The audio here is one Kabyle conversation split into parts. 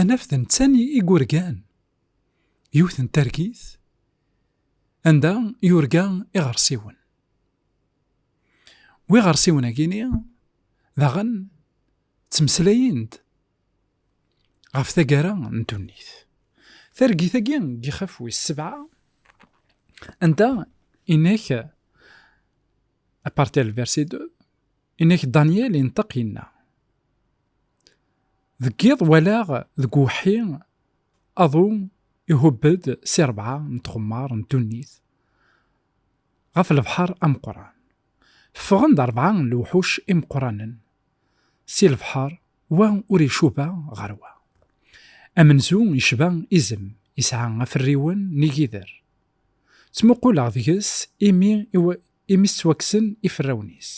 Anaf d netta i yurgan yiwet n targit anda yurga iɣersiwen. Wi iɣersiwen agini daɣen ttmeslayen-d ɣef taggara n ddunit. Targit agi n yixef wis sebɛa anda inek apartel versi de inek Daniel inṭeq inna. Deg yiḍ walaɣ deg uwḥi aḍu ihubb-d si rebɛa n tɣemmar n ddunit ɣef lebḥer ameqqran. Ffɣen-d rebɛa n lewḥuc imeqqranen si lebḥer, wa ur icuba ɣer wa. Amenzu yecba izem, yesɛa aferriwen n igider. Ttmuquleɣ deg-s imi i s-ttwakksen iferrawen-is.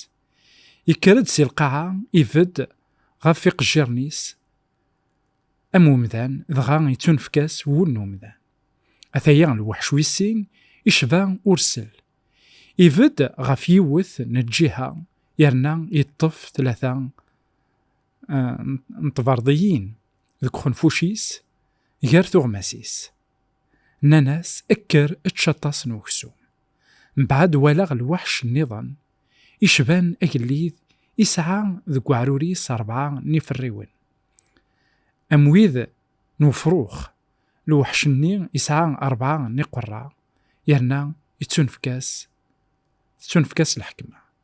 Yekker-d si lqaɛa, ibedd ɣef iqejjiren-is am umdan, dɣa yettunefk-as wul n umdan. Ataya lweḥc wis sin, icba ursel. Ibedd ɣef yiwet n lǧiha, yerna yeṭṭef tlata eh, n tberḍiyin deg uxenfuc-is, gar tuɣmas-is. Nnan-as, Kker, ečč aṭas n weksum. Mbeɛd walaɣ lweḥc nniḍen, icban agellid, isɛa deg weɛrur-is rebɛa n yiferriwen, am wid n wefrux, lweḥc-nni isɛa rebɛa n iqerra, yerna yettunefk-as, tettunefk-as lḥekma.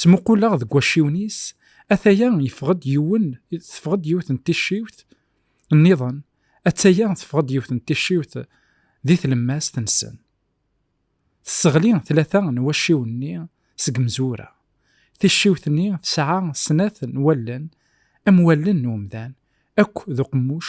Ttmuquleɣ deg wacciwen-is, ataya yeffeɣ-d yiwen, teffeɣ-d yiwet n ticciwt nniḍen, attaya teffeɣ-d yiwet n ticciwt di tlemmast-nsen. Tesseɣli tlata n wacciwen-nni seg mezwura. Ticciwt-nni tesɛa snat n wallen am wallen n umdan akk d uqemmuc.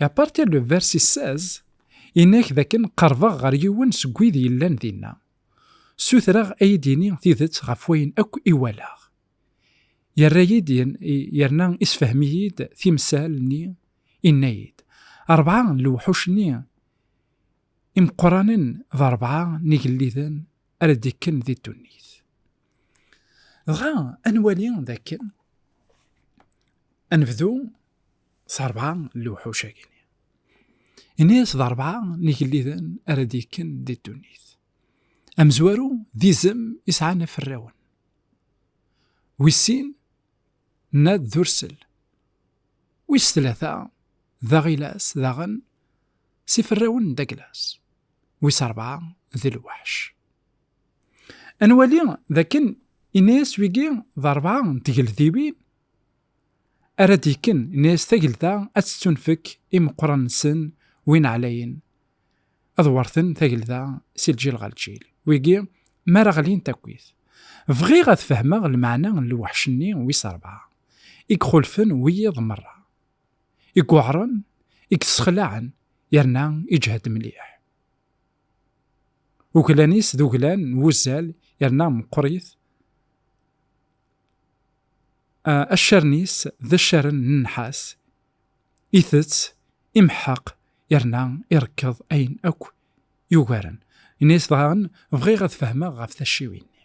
Et à partir du verset 16, inek daken qerbeɣ ɣer yiwen seg wid yellan dinna. Sutreɣ ay d-yini tidet ɣef wayen akk i walaɣ. Yerra-yi-d yerna isfehmi-yi-d timsal-nni, inna-yi-d, Rebɛa n lewḥuc-nni imeqqranen d rebɛa n yigelliden ara d-ikken di ddunit. dɣa ad nwali dakken ad nebdu s rebɛa n lewḥuc-agi ini-as d rebɛa n igelliden ara d-yekken di ddunit amezwaru d izem i sɛan aferrawen wis sin nad d ursel wis tlata d aɣilas daɣen s iferrawen n daglas wis rebɛa d lweḥc Ad nwali dakken inna-yas wigi d rebɛa n tgeldiwin ara d-ikken inna-yas tagelda ad tettunfek imeqqran-nsen win ɛlayen ad werten tagelda si lǧil ɣer lǧil wigi mi ara ɣlint akkit bɣiɣ ad fehmeɣ lmeɛna n lweḥc-nni wis rebɛa i ixulfen wiyiḍ merra i yuɛren i yessexlaɛen yerna iǧhed mliḥ. Uglan-is d uglan n wuzzal yerna meqqrit. Accaren-is d accaren n nnḥas. Itett, imeḥḥeq yerna irekkeḍ ayen akk yugaren. Yenna-as daɣen, Bɣiɣ ad fehmeɣ ɣef tacciwin-nni.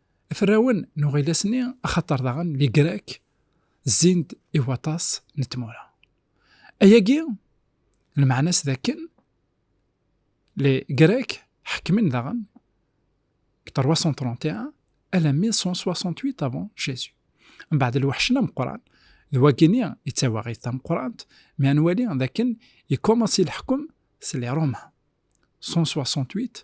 Ferrawen n uɣilas-nni axaṭer daɣen Ligrak zzin-d i waṭas n tmura. Ayagi lmeɛna-s d akken Ligrak ḥekmen daɣen deg 331 alammi 168 avant Jésus. Mbeɛd lweḥc n ameqqran d wagini i d tawaɣit tameqqrant mi ad nwali d akken yekkumansi leḥkem s li Roma 168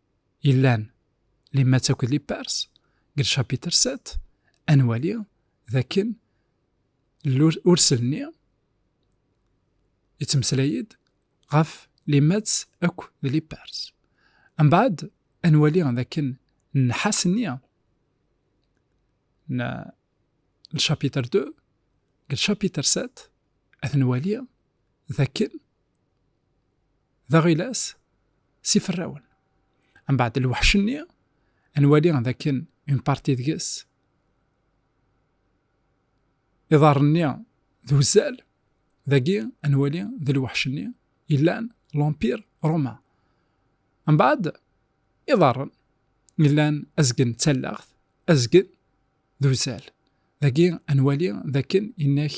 yellan li matt akked li pars deg lcapitr 7 ad nwali d akken urselni yettmeslay-d ɣef li matt akk d li pars mbaɛd ad nwali d akken nnḥas-nni n lcapitr 2 deg lcapitr 7 ad nwali d akken d aɣilas s iferrawen mbeɛd lweḥc-nni nwali d akken un parti deg-s iḍarren-nni d uzzal dagi nwali d lweḥc-nni yellan l'empire romain mbeɛd iḍarren yellan azgen d tallaɣt azgen d uzzal dagi nwali d akken innak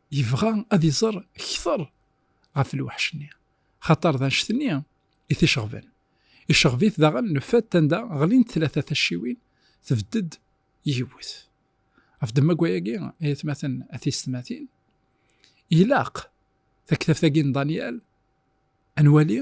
yebɣa ad iẓer kter ɣef lweḥc-nni, xaṭer d anect-nni i t-iceɣben. Iceɣb-it daɣen le fait anda ɣlint tlata tacciwin, tbedd-d yiwet. Ɣef ddemma n wayagi, ay atmaten a tiysetmatin, ilaq taktabt-agi n Danyal ad nwali